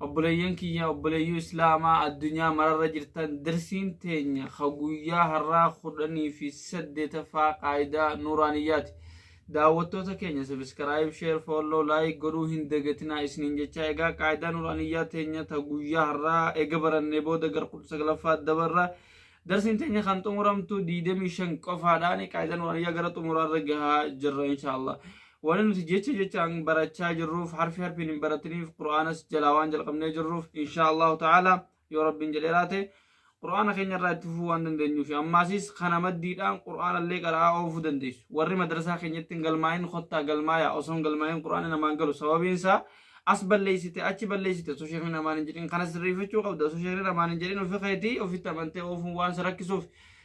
Obboleeyyan kiyya obboleeyyuu Islaamaa addunyaa mararra jirtan darsiin teenya ka guyyaa har'aa kudhanii fi saddeetaffaa qaayidaa nuuraaniyyaati. Daawwattoota keenya subscribe, share, follow, like godhuu hin dagatinaa isiniin jechaa egaa qaayidaa nuuraaniyyaa teenya ta guyyaa har'aa ega barannee booda gar kudha saglaffaa dabarra. Darsiin teenya kan xumuramtu 25 qofaadhaan qaayidaa nuuraaniyyaa gara xumuraarra gahaa jirra inshaallah. Wanni nuti jecha jechaan barachaa jirruuf harfi harfiin hin baratiniif qur'aanas jalaa waan jalqabnee jirruuf inshaa Allahu ta'ala yoo rabbiin jedhee laate qur'aana keenya irraa itti fufuu waan dandeenyuu fi ammaasis kana maddiidhaan qur'aana illee qara'aa oofuu dandeessu warri madrasaa keenyatti hin galmaa'in kottaa galmaayaa osoo hin galmaa'in qur'aanni namaan galu sababiin isaa as balleessite achi balleessite osoo sheekni namaan hin jedhin kana sirreeffachuu qabda osoo sheekni namaan hin jedhin ofi keetii ofitti amantee oofuun waan si rakkisuuf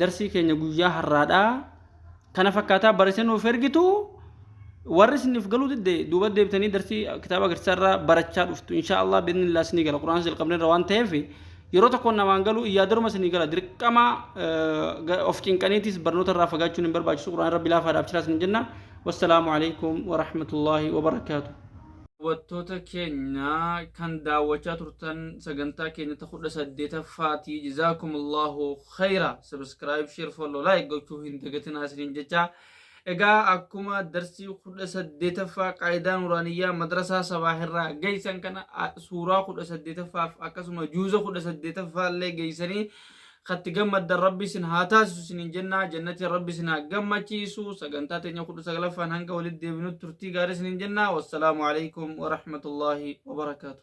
Darsii keenya guyyaa harraadhaa kana fakkaataa barreessanii nuuf ergitu warri isiniif galuu didde duuba deebitanii darsii kitaaba agarsiisaa irraa barachaa dhuftu insha Allah biidni illaa isinii gala quraana jalqabne irra waan ta'eef yeroo tokkoon namaan galuu iyyaadaruma isinii gala dirqama of cinqaniitis barnoota irraa fagaachuun hin barbaachisu quraana rabbi laafaa dhaaf jiraa isin jenna wassalaamu alaikum warahmatullaahi wabarakaatu. Daawwattoota keenya kan daawwachaa turtan sagantaa keenya ta kudha saddeetaffaatii jazaakumullahu khayra subscribe share follow like gochuu hin dagatinaa isiniin jechaa egaa akkuma darsii kudha saddeetaffaa qaayidaa nuraaniyyaa madrasaa sabaahirraa geeysan kana a- suuraa kudha saddeetaffaaf akkasuma juuza kudha saddeetaffaa illee geeysanii katti gammaddan rabbi isin haa taasisu isiniin jennaa jannatiin rabbi isin haa gammachiisu sagantaa teenya kudha saglaffaan hanga walitti deebinutti turtii gaarii isiniin jennaa wassalaamu alaikum warahmatullaahi wabarakaatu